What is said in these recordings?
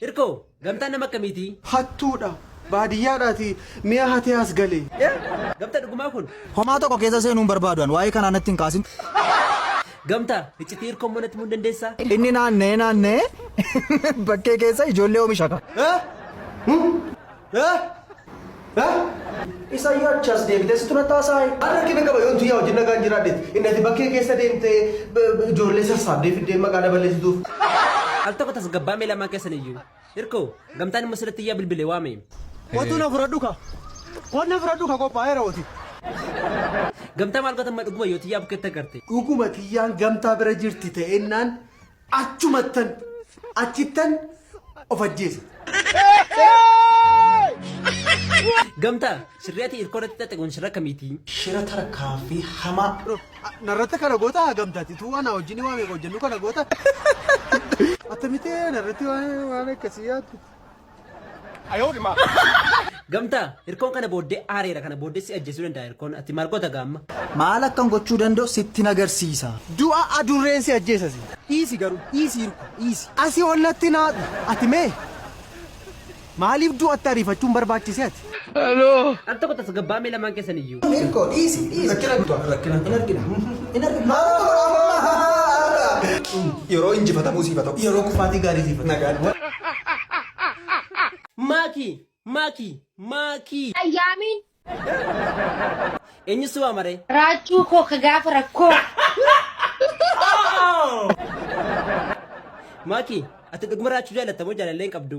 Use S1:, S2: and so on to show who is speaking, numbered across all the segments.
S1: Hirkoo, gamtaan nama akkamiitii? Hattuudha.
S2: Baadiyyaadhaati mi'a hatee as gale. Gamta dhugumaa
S1: kun? Homaa tokko keessa seenuu
S3: hin barbaadu an waa'ee kanaa natti hin kaasin.
S1: Gamta, iccitii hirkoo immoo natti himuu hin dandeessaa? Inni naanna'ee
S3: naanna'ee bakkee keessa ijoollee oomishaka.
S2: Isa yoo achi as deebitee situ natti haasaayi. Ani rakkina qaba yoon tuyyaa wajjin nagaan jiraadheeti. Inni ati bakkee keessa deemtee ijoollee sassaabdee fiddee maqaa na balleessituuf. Al tokko
S1: tasgabbaa'amee lamaan keessan iyyuu. Hirkoo, gamtaan immoo sirriitti iyyaa bilbilee waame. Kotuu na fudhadhu
S2: ka. Koot na fudhadhu ka qophaa'eera hoti.
S1: Gamtaa maal goota amma dhuguma yoo tiyyaa bukkeetti agarte. Dhuguma tiyyaan
S2: gamtaa bira jirti ta'ennaan Achumattan achittan of ajjeesa.
S1: Gamta sirri ati irko irratti xaxe kun sirra kamiti. Shira tarkaanfii
S2: hamaa. Bro narratti kana goota gamtaati tuu ana wajjin waa meeqa hojjennu kana goota. Attamite narratti waan waan akkasii yaaddu.
S1: Gamtaa! Hirkoon kana booddee aareera kana booddee si ajjeesuu danda'a hirkoon ati maal goota gaa amma? Maal akkan gochuu
S3: danda'u sittin agarsiisa. Du'a adurreen
S2: si ajjeesa si. Dhiisi garuu dhiisi hirkoo dhiisi. Asi ol natti hin aadhu ati mee. Maaliif du'atti ariifachuun barbaachise ati? Hello. Al tokko
S1: tasgabbaa'aa mee lamaan keessan iyyuu.
S2: Ilko dhiisi dhiisi. Rakkina guutuu rakkina. Hin argina. Hin argina. Yeroo injifatamuu siif haa ta'u. Yeroo kufaatii gaarii siif haa ta'u. Nagaan. Maaki
S1: maaki maaki. Ayyaamiin. Eenyu si waamaree? Raachuu koo ka
S4: gaafa rakkoo.
S1: Maaki ati dhuguma raachuu jaalatta moo jaalallee hin qabdu?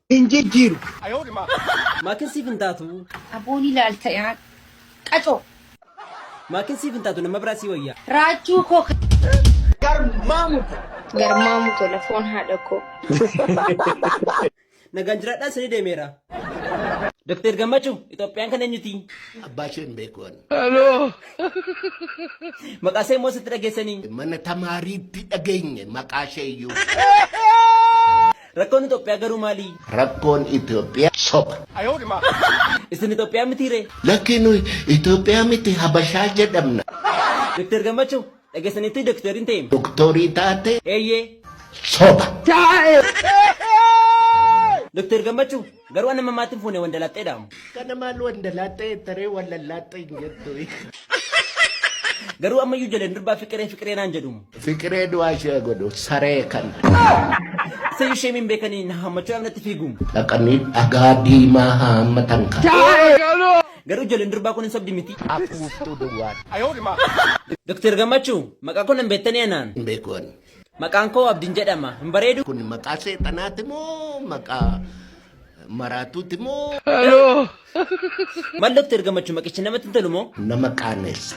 S1: hin jijjiiru. Maakin siif hin taatu. Aboon ilaalta
S4: yaa qacoo.
S1: Maakin siif hin taatu nama biraa sii wayya. Raachuu koo.
S4: Garmaamu
S2: Garmaamu
S4: tola foon haadha koo.
S1: Nagaan jiraadhaa isinii deemeera. Doktar Gammachuu Itoophiyaan kan eenyuti? Abbaa ishee hin beeku
S5: ani.
S1: Maqaa ishee immoo sitti dhageessanii? Mana tamaariitti
S5: dhageenye maqaa ishee iyyuu. Rakkoon
S1: Itoophiyaa garuu maali? Rakkoon Itoophiyaa
S5: soba.
S1: Isin Itoophiyaa mitii ree? Lakkii nuyi
S5: Itoophiyaa miti Habashaa jedhamna. Doktar
S1: Gammachuu, dhageessaniittuu doktorii hin ta'eem? Doktorii taatee?
S5: Eeyyee.
S1: Soba. Doktar Gammachuu, Garuu an amma maatti hin fuune wandalaaxxee dha. Kana maal
S5: wandalaaxxee jetta ree wallallaaxxee hin jettu. Garuu
S1: ammayyuu ijoleen durbaa fiqiree fiqiree naan jedhu. Fiqiree du'aa ishee
S5: godhu saree kan.
S1: Sayyuu ishee min beekanii na hammachuu dhabnatti fiigu. Dhaqanii dhagaa
S5: diimaa haammatan kan. Garuu
S1: ijoleen durbaa kun hin sobdi miti. Afuuftuu duwwaa. Doktar Gammachuu maqaa kun hin beektanii anaan. Hin beeku ani.
S5: Maqaan koo Abdin
S1: jedhama. Hin bareedu? Kun maqaa seexanaati
S5: moo maqaa maraatuuti moo?
S1: Mal Dr. Gammachuu maqichi namatti hin tolu moo? Nama qaaneessa.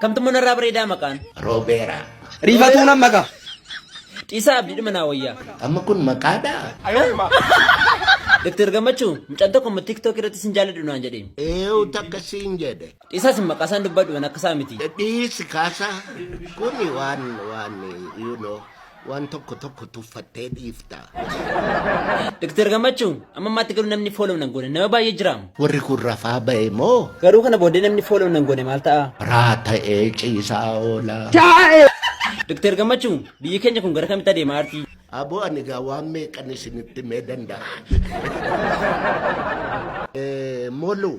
S1: Kamtummoo narraa bareedaa maqaan. Roobeera.
S5: Riifatuu nan
S2: maqa. Dhiisaa
S1: abdiidhuma naa wayyaa. Amma kun maqaadhaa? Dr. Gammachuu mucaan tokko immoo TikTok irratti sin jaaladhu naan jedheen. Eewu takka
S5: siin jedhe. Dhisaa sin maqasaan
S1: dubbadhu an akkasaa miti. Dhiisi kaasa
S5: kuni waan waan you know waan tokko tokko tuffattee dhiifta.
S1: Dr. Gammachuu amma ammaatti garuu namni follow nan goone nama baay'ee jiraam. Warri kun rafaa
S5: ba'e moo Garuu kana booddee namni
S1: follow nan goone maal ta'a? raa ta'ee
S5: ciisaa oola.
S1: Dr. Gammachuu biyyi keenya kun gara kamitti adeemaa artii? Aboo ani gaa waan
S5: meeqan isinitti himee danda'a. Eh, Molu,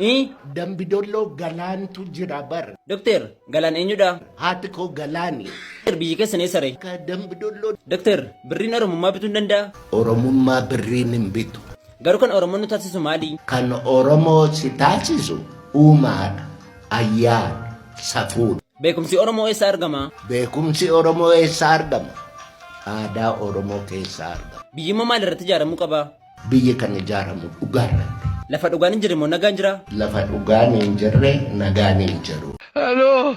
S5: Ii, dambidolloo galaantu jira bar. Dokteer, galaan
S1: eenyudha? Haati koo galaani.
S5: Dokteer, biyyi keessan eessa
S1: ree? Ka dambidolloo Dokteer, birriin
S5: Oromummaa bituu ni
S1: danda'a? Oromummaa birriin
S5: hin bitu.
S1: Garuu kan Oromoo nu taasisu maali? Kan Oromoo
S5: si taasisu uumaadha, ayyaana, safuudha. Beekumsi Oromoo
S1: eessaa argama? Beekumsi Oromoo
S5: eessaa argama? Aadaa Oromoo keessaa argama. Biyyi immoo maal irratti ijaaramuu
S1: qaba? Biyyi kan
S5: ijaaramu dhugaa irratti. Lafa dhugaan hin jirre immoo
S1: nagaan jira? Lafa dhugaan hin
S5: jirre nagaan hin jiru. Hello.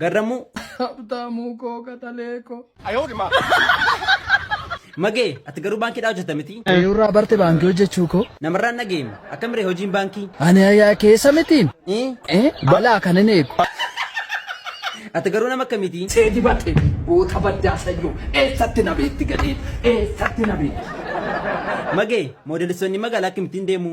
S3: Garramuu.
S1: Habtaamuu
S3: koo qaxalee koo.
S1: Magee ati garuu baankiidhaa hojjeta miti. Eeyurraa barte baankii
S3: hojjechuu koo. Namarraan dhageem
S1: akkamire hojiin baankii. Ani ayaa keessa
S3: mitiin. Eh? Balaa kan hin eegu.
S1: Ati garuu nama akkamiiti? Cee dibate
S3: goota baddaa sayyoo eessatti na beetti gadhee eessatti na beetti. Magee
S1: moodelisonni magaalaa akkamittiin deemu?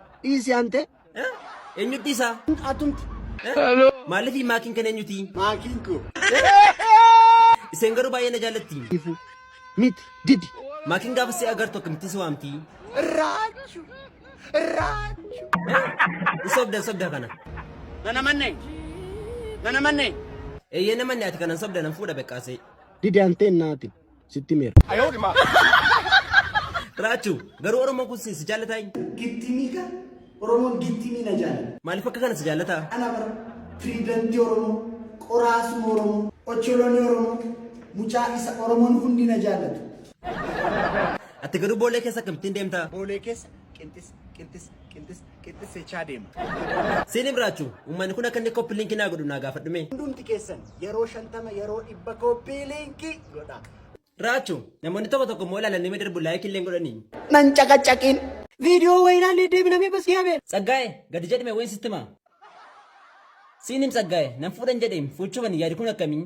S1: Dhiisi ante.
S2: Eenyutti
S1: isaa? Atumti. Maaliif maakiin kan eenyuti? Maakiin koo. Iseen garuu baay'ee na jaallatti. Ifu. Miti.
S2: Didi. Maakiin gaafa si
S1: agartu akkamitti si waamti? Raachu.
S2: Raachu.
S1: Sobda sobda kana. Nana manneen.
S2: Nana manneen. Eeyyee
S1: namanne ati kanan sobda nan fuudha beqqaasee. Didi ante
S2: naati. sitti meera.
S1: Raachu garuu Oromoo kun si jaallataa hin. Gittimii kan
S2: Oromoon gittimii na jaala. Maaliif akka kana si jaallataa?
S1: Ana bara
S2: pirezidantii Oromoo, qoraasuma Oromoo, ocholoni Oromoo, mucaa isa Oromoon hundi na jaallatu.
S1: Ati garuu boolee keessa akkamittiin deemtaa? Boolee keessa
S2: qinxis qinxis qinxis qixxissechaa deema. Siin Ibraachu,
S1: uummanni kun akka inni koppi linkii naa godhu naa gaafadhu mee. Hundumti keessan
S2: yeroo shantama yeroo dhibba koppii linkii godha. Raachu,
S1: namoonni tokko tokko immoo ilaalanii mee darbu laayikii illee hin godhanii. Nan caqacaqiin.
S2: Viidiyoo wayii ilaalee deebina mee basii habeen. Tsaggaa'e, gadi jedhime
S1: wayin sitti himaa. Siin him Tsaggaa'e, nan fuudhan jedheem, fuuchuufan yaadi kun akkamii?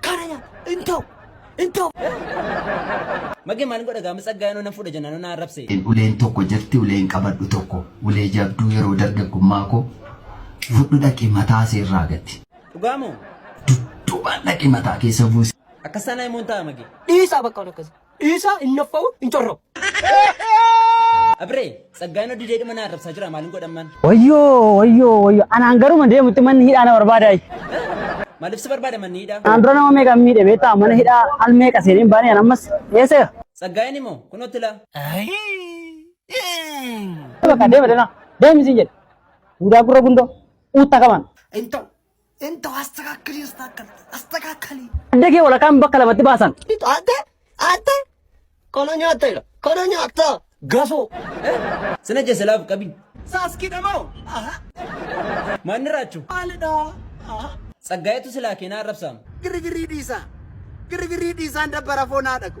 S2: Kana nyaata. Hin ta'u. Hin ta'u.
S1: Magee maalin godha gaama tsaggaa yanoo nan fuudha jennaan na arrabse. in uleen tokko jirti
S3: uleen qabadhu tokko ulee jabduu yeroo dargaggummaa koo fudhu dhaqi mataa see irraa gati Dhugaa moo?
S1: dudduubaan
S3: dhaqi mataa keessa buusi. Akkas taanaa himoon ta'a
S1: magee. Dhiisaa bakka waan akkasii.
S2: Dhiisaa hin naffa'u hin corra'u. Abree,
S1: tsaggaa inni didee dhima na arrabsaa jira maalin godhamman? Wayyoo wayyoo
S6: wayyoo anaan garuma deemutti manni hidhaa na barbaada. Maaliif si
S1: barbaada manni hidhaa? Anaan dura nama meeqa miidhe
S6: beektaa mana hidhaa al meeqa seeneen baanee ammas eesseera. Tsaggaa inni moo
S1: kunootti laa.
S6: Bakka deema deema deemi siin jedhe. Duudaa gurra gundoo uutta qaban. Hin ta'u Inta
S2: astakakkali astakakkali astakakkali. Adda kee walakaan bakka
S6: lamatti baasan. Atte atte
S2: kana nyaatta jira kana nyaatta gasoo. Sina
S1: jese laaf qabi. Saaskidha moo? Aha. Maanni raachu. Maalidha? Aha.
S2: Tsaggaayetu silaa
S1: keenaa arrabsaama.
S2: Girgirii
S1: dhiisaa. Girgirii
S2: dhiisaan dabbara
S1: foonaa dhaqu.